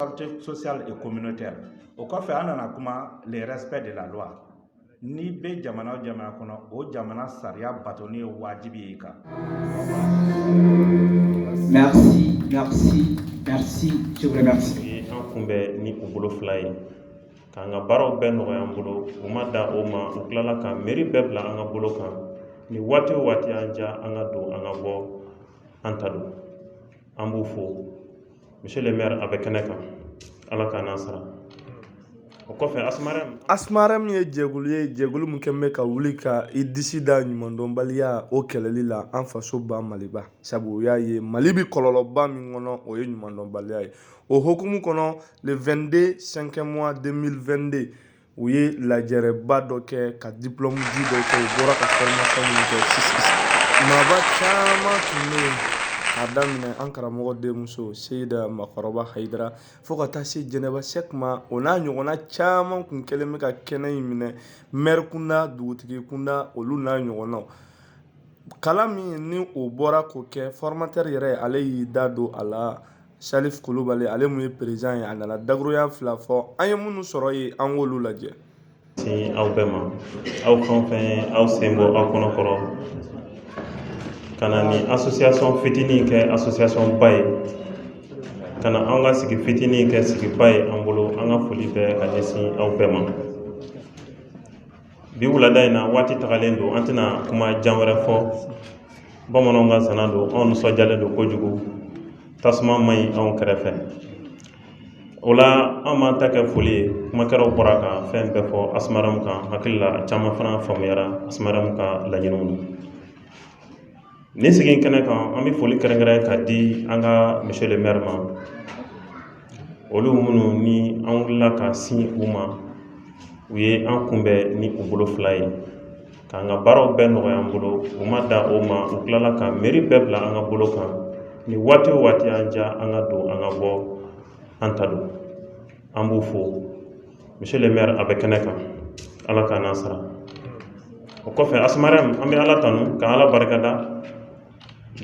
Santé sociale et communautaire o kɔfɛ an nana kuma le respect de la loi n'i bɛ jamana o jamana kɔnɔ o jamana sariya batoni ye wajibi ye kan. Merci, merci, merci, je vous remercie. An kunbɛn ni u bolo fila ye k'an ka baaraw bɛɛ nɔgɔya an bolo u ma da o ma u tilala ka mɛri bɛɛ bila an ka bolo kan ni waati o waati an diya an ka don an ka bɔ an ta don an b'u fo monsieur le maire a bɛ kɛnɛ kan ala k'a n'a sara o kɔfɛ asmarɛm asmarɛm ye jɛkulu ye jɛkulu min kɛlen bɛ ka wuli ka i disi da ɲumandɔnbaliya o kɛlɛli la an fasoba maliba sabu u y'a ye mali bi kɔlɔlɔba min kɔnɔ o ye ɲumandɔnbaliya ye o hokumu kɔnɔ le 22 cinquième mois 2022 u ye lajɛrɛba dɔ kɛ ka diplɔmu di dɔ kɛ u bɔra ka fɔrɔmasiyɔn min kɛ maaba caman tun bɛ yen k'a daminɛ an karamɔgɔ denmuso seyida makɔrɔba hayidara fo ka taa se jɛnɛba sɛk ma o n'a ɲɔgɔnna caman tun kɛlen bɛ ka kɛnɛ in minɛ mɛri kunda dugutigi kunda olu n'a ɲɔgɔnnaw kalan min ni o bɔra k'o kɛ fɔrɔmatɛri yɛrɛ ale y'i da don a la Salif Kulubali ale min ye perezidan ye a nana dakuruya fila fɔ an ye minnu sɔrɔ ye an k'olu lajɛ sin aw bɛɛ ma aw fɛn o fɛn ye aw sen bɔ aw kɔnɔ kɔrɔ ka na ni association fitinin kɛ association ba ye ka na an ka sigi fitinin kɛ sigiba ye an bolo an ka foli bɛɛ ka ɲɛsin aw bɛɛ ma bi wulada in na waati tagalen don an tɛna kuma jan wɛrɛ fɔ bamananw ka zana don anw nisɔndiyalen don kojugu tasuma man ɲi anw kɛrɛfɛ o la an b'an ta kɛ foli ye kumakɛlaw bɔra ka fɛn bɛɛ fɔ asumarɛmu kan hakilila caman fana faamuyara asumarɛmu ka laɲiniw na Nin sigi kɛnɛ kan an bɛ foli kɛrɛnkɛrɛn ka di an ka monsieur le maire ma olu minnu ni an wulila ka sin u ma u ye an kunbɛn ni u bolo fila ye k'an ka baaraw bɛɛ nɔgɔya an bolo u ma da o ma u tilala ka mairie bɛɛ bila an ka bolo kan ni waati o waati an diya an ka don an ka bɔ an ta don an b'u fo monsieur le maire a bɛ kɛnɛ kan Ala k'a n'a sara o kɔfɛ Asmarɛmu an bɛ Ala tanu ka Ala barikada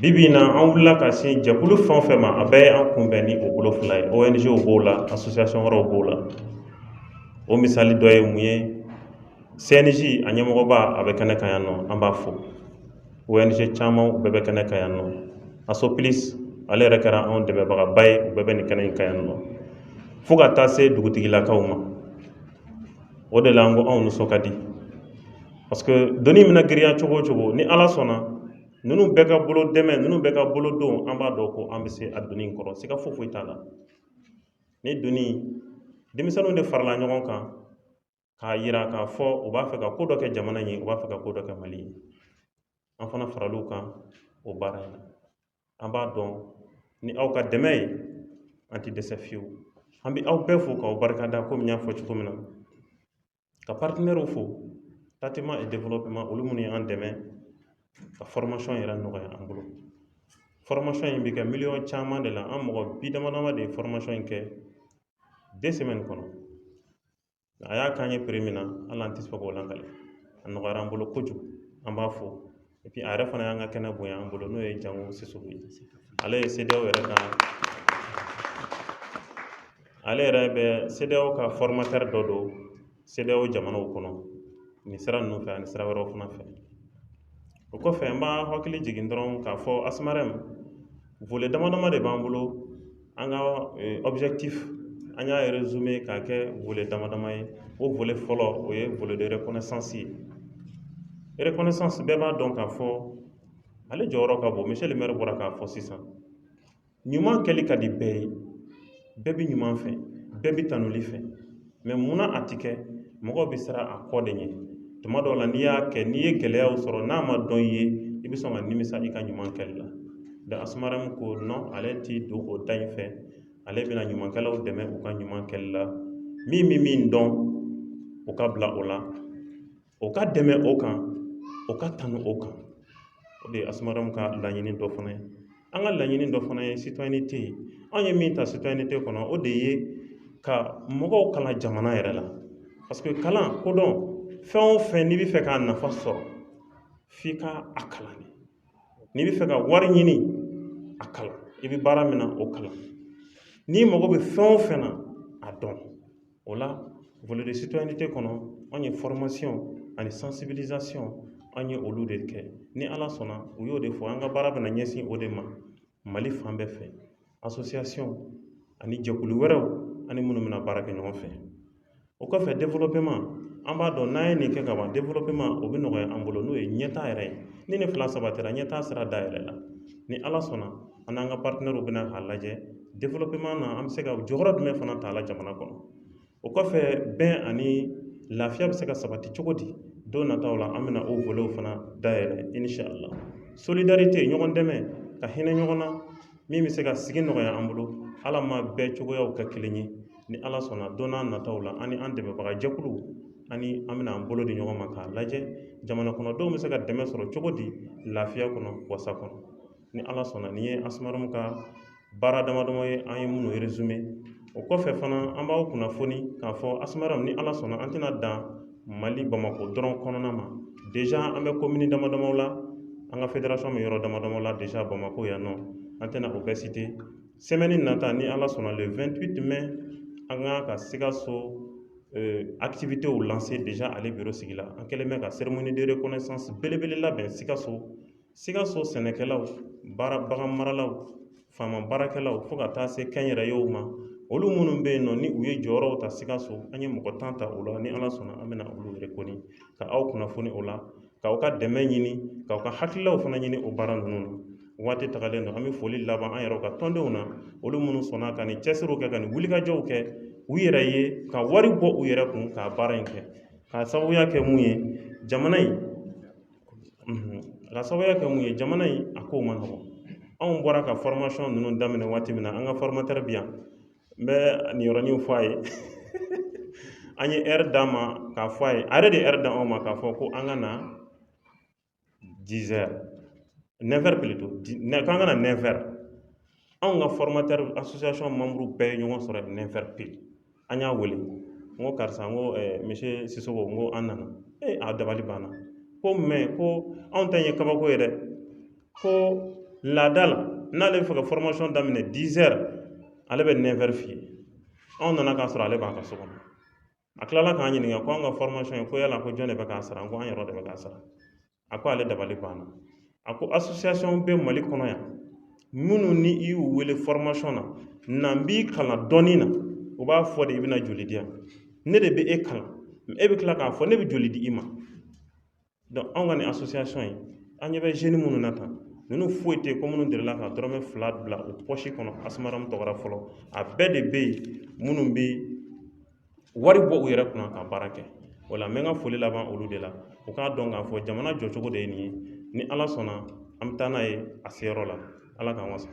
bi bi in na an wulila ka se jɛkulu fɛn o fɛn ma a bɛɛ ye an kunbɛn ni o bolo fila ye ONG b'o la association wɛrɛw b'o la o misali dɔ ye mun ye CNJ a ɲɛmɔgɔba a bɛ kɛnɛ kan yan nɔ an b'a fo. ONG caman u bɛɛ bɛ kɛnɛ kan yan nɔ ASOPLIS ale yɛrɛ kɛra anw dɛmɛbagaba ye u bɛɛ bɛ nin kɛnɛ in kan yan nɔ fo ka taa se dugutigilakaw ma o de la an ko anw nisɔn ka di parce que doni mana girinya cogo o cogo ni Ala sɔnna ninnu bɛɛ ka bolo dɛmɛ ninnu bɛɛ ka bolo don an b'a dɔn ko an bɛ se a doni kɔrɔ siga foyi foyi t'a la ni doni denmisɛnninw de farala ɲɔgɔn kan k'a yira k'a fɔ u b'a fɛ ka ko dɔ kɛ jamana in ye u b'a fɛ ka ko dɔ kɛ mali ye an fana faral'u kan o baara in na an b'a dɔn ni aw ka dɛmɛ ye an tɛ dɛsɛ fiyewu an bɛ aw bɛɛ fo k'aw barikada komi n y'a fɔ cogo min na ka partenaires fo tatima et développement olu minnu ye an dɛmɛ ka formation yɛrɛ nɔgɔya an bolo formation in bɛ kɛ miliyɔn caman de la an mɔgɔ bi dama dama de ye formation in kɛ deux semaines kɔnɔ a y'a k'an ye prix min na hali an tɛ se k'o lakali a nɔgɔyara an bolo kojugu an b'a fo et puis a yɛrɛ fana y'an ka kɛnɛ bonya an bolo n'o ye jango sisɔkɔ ye ale ye CEDEAO yɛrɛ ka ale yɛrɛ bɛ CEDEAO ka formateur dɔ don CEDEAO jamanaw kɔnɔ nin sira ninnu fɛ ani sira wɛrɛw fana fɛ o kɔfɛ an b'an hakili jigin dɔrɔn k'a fɔ asmɛrɛri boli damadama de b'an bolo an ka awbiti an y'a yɛrɛ zun ye k'a kɛ boli dama damama ye o boli fɔlɔ o ye boli de yɛrɛɛsansi ye eɛsansi bɛɛ b'a dɔn k'a fɔ ale jɔyɔrɔ ka bon misili m bɔra k'a fɔ sisan ɲuman kɛli ka di bɛɛ ye bɛɛ bɛ ɲuman fɛ bɛɛ bɛ tanuli fɛ mais munna a tɛ kɛ mɔgɔw bɛ siran a kɔ de ɲɛ tuma dɔw la n'i y'a kɛ n'i ye gɛlɛyaw sɔrɔ n'a ma dɔn i ye i bɛ sɔn ka nimisa i ka ɲuman kɛli la donc Asmarem ko non ale tɛ don o da in fɛ ale bɛna ɲumankɛlaw dɛmɛ u ka ɲuman kɛli la min bɛ min dɔn o ka bila o la O ka dɛmɛ o kan o ka tanu o kan o de ye Asmarem ka laɲini dɔ fana ye an ka laɲini dɔ fana ye citoyenneté anw ye min ta citoyenneté kɔnɔ o de ye ka mɔgɔw kalan jamana yɛrɛ la parce que kalan kodɔn fɛn o fɛn n'i bɛ fɛ k'a nafa sɔrɔ f'i ka a kalan de n'i bɛ fɛ ka wari ɲini a kalan i bɛ baara min na o kalan n'i mago bɛ fɛn o fɛn na a dɔn O la volet de citoyenneté kɔnɔ anw ye formation ani sensibilisation anw ye olu de kɛ ni ala sɔnna u y'o de fɔ an ka baara bɛna ɲɛsin o de ma mali fan bɛɛ fɛ association ani jɛkulu wɛrɛw ani minnu bɛna baara kɛ ɲɔgɔn fɛ o kɔfɛ développement an b'a dɔn n'an ye nin kɛ ka ban développement o bɛ nɔgɔya an bolo n'o ye ɲɛtaa yɛrɛ ye ni nin fila sabatira ɲɛtaa sira dayɛlɛla ni ala sɔnna an n'an ka paritenɛriw bɛna k'a lajɛ dewelopeman na an bɛ se ka jɔyɔrɔ jumɛn fana ta a la jamana kɔnɔ o kɔfɛ bɛn ani lafiya bɛ se ka sabati cogo di don nataw la an bɛna o vole fana dayɛlɛ inisalahu solidarite ɲɔgɔn dɛmɛ ka hinɛ ɲɔgɔn na min bɛ se ka sigi nɔgɔya an bolo ala ma bɛɛ cogoyaw kɛ kelen ye ni ala sɔnna don n'a nataw la ani an dɛmɛbaga jɛkuluw ani an bɛna an bolo di ɲɔgɔn ma k'a lajɛ jamana kɔnɔdenw bɛ se ka dɛmɛ sɔrɔ cogo di lafiya kɔnɔ wasa kɔnɔ ni ala sɔnna nin ye asumaramu ka baara damadama ye an ye minnu resume o kɔfɛ fana an b'aw kunnafoni k'a fɔ asumaramu ni ala sɔnna an tɛna dan mali bamakɔ dɔrɔn kɔnɔna ma deja an bɛ komini damadamaw la an ka federasɔn bɛ yɔrɔ damadama la deja bamakɔ yan nɔ an tɛna o bɛɛ site semɛni nata ni ala sɔnna le 28 mai an ka ka sikaso activitéw lancer déjà ale biro sigila an kɛlen bɛ ka cérémonie de reconnaissance belebele labɛn sikaso Sikaso sɛnɛkɛlaw baganmaralaw faama baarakɛlaw fo ka taa se kɛnyɛrɛyew ma olu minnu bɛ yen nɔ ni u ye jɔyɔrɔw ta sikaso an ye mɔgɔ tan ta o la ni ala sɔnna an bɛna olu reconnu ka aw kunnafoni o la k'aw ka dɛmɛ ɲini k'aw ka hakililaw fana ɲini o baara ninnu na waati tagalen don an bɛ foli laban an yɛrɛ ka tɔndenw na olu minnu sɔnna ka nin cɛsiriw kɛ ka nin wulikajɔw kɛ u yɛrɛ ye ka wari bɔ u yɛrɛ kun ka baara in kɛ k'a sababuya kɛ mun ye jamana in k'a sababuya kɛ mun ye jamana in a kow man nɔgɔn anw bɔra ka fɔrmasiyɔn ninnu daminɛ waati min na an ka fɔrmatɛri bɛ yan n bɛ nin yɔrɔnin fɔ a ye an ye ɛri d'a ma k'a fɔ a ye a yɛrɛ de ye ɛri d'anw ma k'a fɔ ko an ka na dizɛri nɛfɛri plutôt k'an ka na anw ka fɔrmatɛri asosiyasɔn manburu bɛɛ ye ɲɔgɔn sɔrɔ nɛfɛri pili an y'a wele n ko karisa n ko misiye sisɔkɔ n ko an nana ee a dabali banna ko mɛ ko anw ta in ye kabako ye dɛ ko laada la n'ale bɛ fɛ ka fɔrmasiyɔn daminɛ dizɛri ale bɛ nɛfɛri f'i ye anw nana k'a sɔrɔ ale b'a ka so kɔnɔ a tilala k'an ɲininka ko an ka formation in ko yala ko jɔn de bɛ k'a sara n ko an yɛrɛ de bɛ k'a sara a ko ale dabali banna a ko association bɛ mali kɔnɔ yan minnu ni i y'u wele formation na n'an b'i kalan dɔnni na u b'a fɔ de i bɛna joli di yan ne de bɛ e kalan e bɛ tila k'a fɔ ne bɛ joli di i ma dɔnku anw ka nin asosiyasɔn in an ɲɛ bɛ zeni minnu na tan ninnu foyi tɛ ko minnu delila ka dɔrɔmɛ fila bila u pɔsi kɔnɔ asumaramu tɔgɔ ra fɔlɔ a bɛɛ de bɛ yen minnu bɛ wari bɔ u yɛrɛ kunna ka baara kɛ o la n bɛ n ka foli laban olu de la u k'a dɔn k'a fɔ jamana jɔcogo de ye nin ye ni ala sɔnna an bɛ taa n'a ye a seyɔrɔ la ala k'an wasa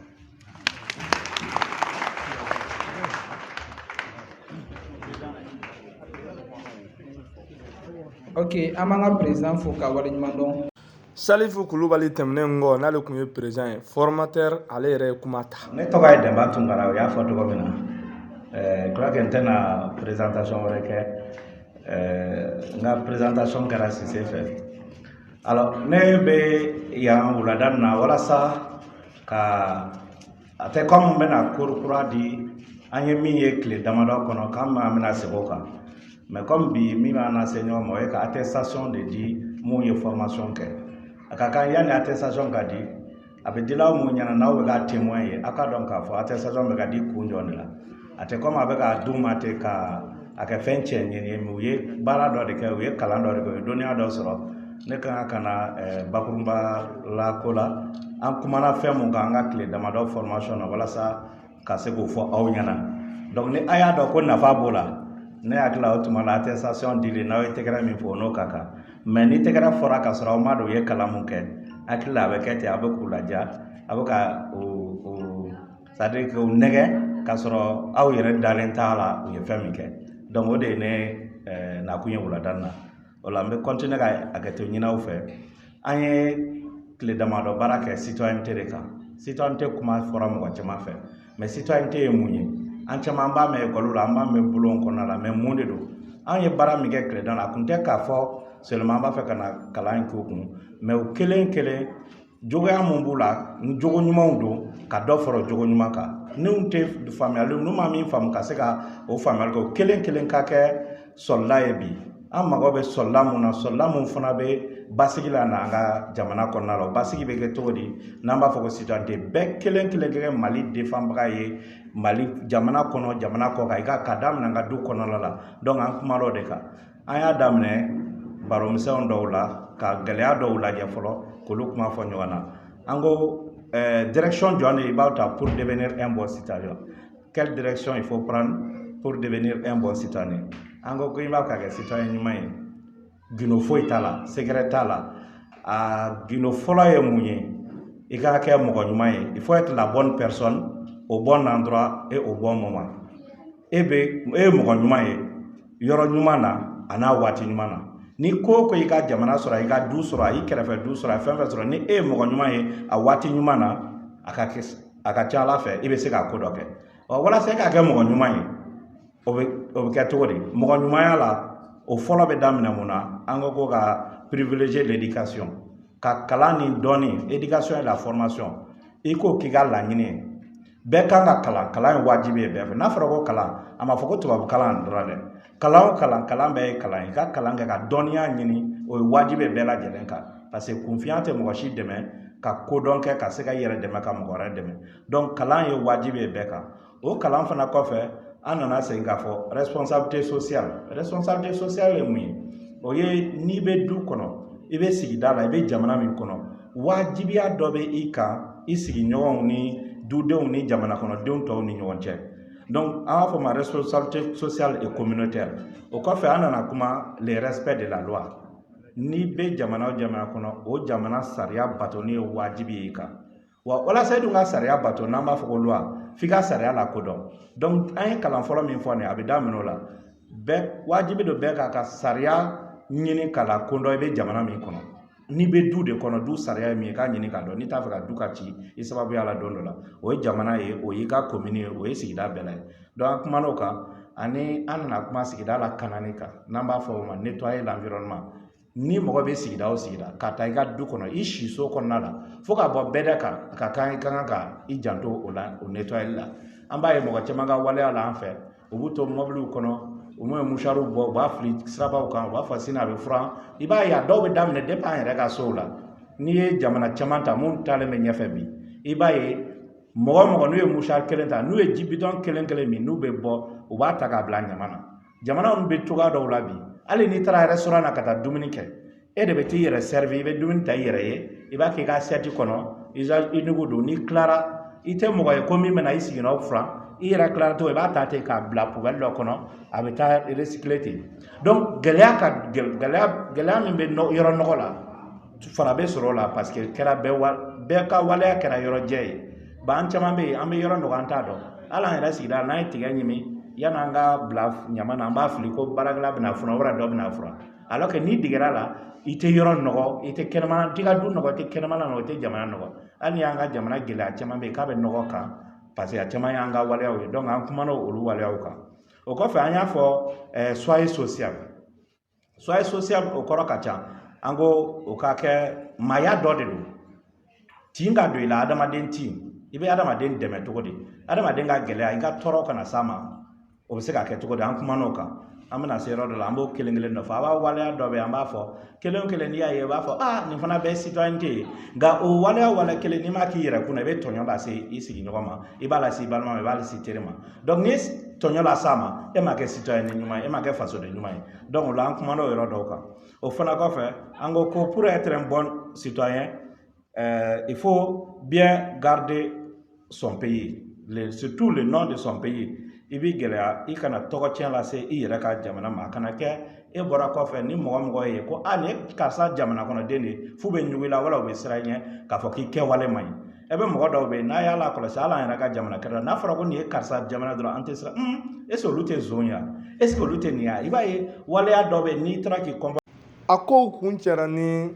ok an b'an ka président fo ka waleɲuman dɔn salifu kulubali tɛmɛnen kɔ n'ale tun ye président ye formateur ale yɛrɛ ye kuma ta ne tɔgɔ ye dɛnba tunkara o y'a fɔ cogo min na eh, je crois que n tɛna présentation wɛrɛ kɛ eh, n ka présentation kɛra sise fɛ Alors ne bɛ yan wulada in na walasa ka a tɛ kɔmi n bɛna cours kura di an ye min ye tile damadɔ kɔnɔ k'an b'a bɛna segin o kan mɛ kɔmi bi min b'an lase ɲɔgɔn ma o ye ka attestation de di mun ye formation kɛ a ka kan yanni attestation ka di a bɛ dila aw mun ɲɛna n'aw bɛ k'a témoin ye aw k'a dɔn k'a fɔ attestation bɛ ka di kun jɔn de la a tɛ komi a bɛ k'a d'u ma ten ka a kɛ fɛn cɛɲi ye mɛ u ye baara dɔ de kɛ u ye kalan dɔ de kɛ u ye dɔnniya dɔ sɔrɔ ne ka kan ka na bakurunba la ko la an kumana fɛn mun kan an ka tile damadɔ formation na walasa ka se k'o fɔ aw ɲɛna donc ni a y'a dɔn ko nafa b'o la ne hakili la o tuma la attestation dili n'aw ye tɛgɛrɛ min fɔ n'o ka kan mɛ ni tɛgɛrɛ fɔra k'a sɔrɔ aw m'a dɔn u ye kalan mun kɛ hakili la a bɛ kɛ ten a bɛ k'u ladiya a bɛ ka o o c'est à dire k'u nɛgɛn k'a sɔrɔ aw yɛrɛ dalen t'a la u ye fɛn min kɛ donc o de ye ne nakun ye wulada in na o la n bɛ kɔntiniye ka hakɛto ɲini aw fɛ an ye tile damadɔ baara kɛ citoyenneté de kan citoyenneté kuma fɔra mɔgɔ caman fɛ mɛ citoyenneté ye mun ye an caman b'a mɛn ekɔli la an b'a mɛn bɔlɔn kɔnɔna la mɛ mun de don an ye baara min kɛ tile dama na a kun tɛ k'a fɔ seulement an b'a fɛ ka na kalan in k'u kun mɛ u kelen kelen Jogoya mun b'u la ni jogo ɲumanw don ka dɔ fara jogo ɲuman kan n'u tɛ faamuyali n'u ma min faamu ka se ka o faamuyali kɛ o kelen kelen ka kɛ soldat ye bi an mago bɛ soldat mun na soldat mun fana bɛ basigi lana an ka jamana kɔnɔna la o basigi bɛ kɛ cogo di n'an b'a fɔ ko citoyenneté bɛɛ kelen kelen kɛ mali defanbaga ye mali jamana kɔnɔ jamana kɔ kan i ka ka daminɛ an ka du kɔnɔna la donc an kumana o de kan an y'a daminɛ baromisɛnw dɔw la ka gɛlɛya dɔw lajɛ fɔlɔ k'olu kuma fɔ ɲɔgɔn na an ko eh, direction jɔn de i b'a ta pour devenir un bon citoyen quelle direction il faut prendre pour devenir un bon citoyen an ko ko i b'a ka kɛ citoyen ɲuman ye gindo foyi t'a la secret t'a la a gindo fɔlɔ ye mun ye i ka kɛ mɔgɔ ɲuman ye il faut être la bonne personne au bon endroit et au bon moment e bɛ e ye mɔgɔ ɲuman ye yɔrɔ ɲuman na a n'a waati ɲuman na ni ko ko i ka jamana sɔrɔ i ka du sɔrɔ a i kɛrɛfɛ du sɔrɔ a fɛn fɛn sɔrɔ ni e ye mɔgɔ ɲuman ye a waati ɲuman na a ka kɛ a ka ca a la fɛ i bɛ se ka ko dɔ kɛ ɔ walasa e ka kɛ mɔgɔ ɲuman ye o bɛ o bɛ kɛ cogo di mɔgɔ ɲumanya la o fɔlɔ bɛ daminɛ mun na an ko ko ka privilégier l'éducation ka kalan ni dɔnni éducation et la formation i k'o k'i ka laɲini ye bɛɛ kan ka kalan kalan ye wajibi ye bɛɛ fɛ n'a fɔra ko kalan a ma fɔ ko tubabu kalan dɔrɔn dɛ kalan o kalan kalan bɛɛ ye kalan ye i ka kalan kɛ ka dɔnniya ɲini o ye wajibi ye bɛɛ lajɛlen kan paseke kunfiya tɛ mɔgɔ si dɛmɛ ka kodɔn kɛ ka se ka i yɛrɛ dɛmɛ ka mɔgɔ wɛrɛ dɛmɛ donc kalan ye wajibi ye bɛɛ kan o kalan fana kɔfɛ an nana segin k'a fɔ responsabilité sociale responsabilité sociale ye mun ye o ye n'i bɛ du kɔnɔ i bɛ sigida la i bɛ jamana min kɔnɔ wajibiya dɔ bɛ i kan i sigiɲɔgɔnw ni dudenw ni jamanakɔnɔdenw tɔw ni ɲɔgɔn cɛ donc an b'a fɔ ma responsabilité sociale et communautaire o kɔfɛ an nana kuma le respect de la loi n'i bɛ jamana o jamana kɔnɔ o jamana sariya batoni ye wajibi y'i kan wa walasa i dun ka sariya bato n'an b'a fɔ ko loi f'i ka sariya lakodɔn donc an ye kalan fɔlɔ min fɔ nin a bɛ daminɛ o la bɛɛ wajibi don bɛɛ k'a ka sariya ɲini k'a lakodɔn i bɛ jamana min kɔnɔ n'i bɛ du de kɔnɔ du sariya ye min ye k'a ɲini k'a dɔn n'i t'a fɛ ka du ka ci i sababuya la don dɔ la o ye jamana ye o y'i ka komini ye o ye sigida bɛɛ la ye donc an kumana o kan ani an nana kuma sigida lakanani kan n'an b'a fɔ o ma ni mɔgɔ bɛ sigida o sigida k'a ta i ka du kɔnɔ i siso kɔnɔna la fo ka bɔ bɛda kan a ka kan i ka kan ka i janto o la o netɔyali la an b'a ye mɔgɔ caman ka waleya la an fɛ u b'u to mɔbiliw kɔnɔ u m'o musariw bɔ u b'a fili sirabaw kan u b'a fɔ sini a bɛ furan i b'a ye a dɔw bɛ daminɛ depi an yɛrɛ ka sow la n'i ye jamana caman ta min taalen bɛ ɲɛfɛ bi i b'a ye mɔgɔ mɔgɔ n'u ye musari kelen ta n'u ye ji bidɔn kelen kelen min n'u bɛ bɔ u b'a ta k'a bila ɲaman na jamana min bɛ cogoya dɔw la bi hali n'i taara restaurant na ka taa dumuni kɛ e de bɛ t'i yɛrɛ servir i bɛ dumuni ta i yɛrɛ ye i b'a kɛ i ka assiette kɔnɔ i nugu don n'i tilara i tɛ mɔgɔ ye ko min bɛna i siginɔ furan i yɛrɛ tilala tɔ i b'a ta ten k'a bila poubelle dɔ kɔnɔ a bɛ taa recycler ten donc gɛlɛya ka gɛlɛya min bɛ yɔrɔ nɔgɔ la fura bɛ sɔrɔ o la paseke kɛra bɛɛ ka waleya kɛra yɔrɔ jɛ ye ba an caman bɛ yen an bɛ yɔrɔ nɔgɔ an t'a dɔn hali an yɛrɛ sigida n'an ye tigɛ ɲimi yanni an k'a bila ɲaman na an b'a fili ko baarakɛla bɛn'a furan wɛrɛ dɔ bɛn'a furan alors que n'i degera la i tɛ yɔrɔ nɔgɔ i tɛ kɛnɛmana t'i ka du nɔgɔ i tɛ kɛnɛmana nɔgɔ i tɛ jamana nɔgɔ hali ni y'an ka jamana gɛlɛya caman bɛ yen k'a bɛ nɔgɔ kan paseke a caman y'an ka waleyaw ye donc an kumana olu waleyaw kan o kɔfɛ an y'a fɔ soyez social soyez social o kɔrɔ ka ca an ko o ka kɛ maaya dɔ de don tin ka don i la adamaden tin i bɛ adamaden dɛmɛ cogo di adamaden ka gɛlɛya i ka tɔɔrɔ kana s'a ma o bɛ se ka kɛ cogo di an kuman'o kan an bɛna se yɔrɔ dɔ la an b'o kelen kelen dɔ fɔ a b'a waleya dɔ bɛ yen an b'a fɔ kelen o kelen n'i y'a ye i b'a fɔ aa nin fana bɛɛ citoyenneté ye nka o waleya waleya kelen n'i m'a k'i yɛrɛ kunna i bɛ tɔɲɔ lase i sigiɲɔgɔn ma i b'a lase i balima ma i b'a lase i teri ma donc n'i ye tɔɲɔ las'a ma e ma kɛ citoyen ɲuman ye e ma kɛ fasoden ɲuman ye donc o la an kumana o yɔrɔ dɔw kan o fana kɔfɛ an ko ko pour être un bon citoyen euh, il faut bien garder son pays le, surtout le nom de son pays i b'i gɛlɛya i kana tɔgɔtiɲɛ lase i yɛrɛ ka jamana ma a kana kɛ e bɔra kɔfɛ ni mɔgɔ o mɔgɔ y'i ye ko a nin ye karisa jamana kɔnɔ den de ye f'u bɛ ɲugu i la wala u bɛ siran i ɲɛ k'a fɔ k'i kɛwale man ɲi e bɛ mɔgɔ dɔw bɛ yen n'a y'a lakɔlɔsi hali an yɛrɛ ka jamana kɛrɛ la n'a fɔra ko nin ye karisa jamana dɔrɔn an tɛ siran un est-ce que olu tɛ zonya est-ce que olu tɛ nin ya i b'a ye waleya dɔw bɛ yen n'i taara k'i kɔnpɔ a kow kuncɛra ni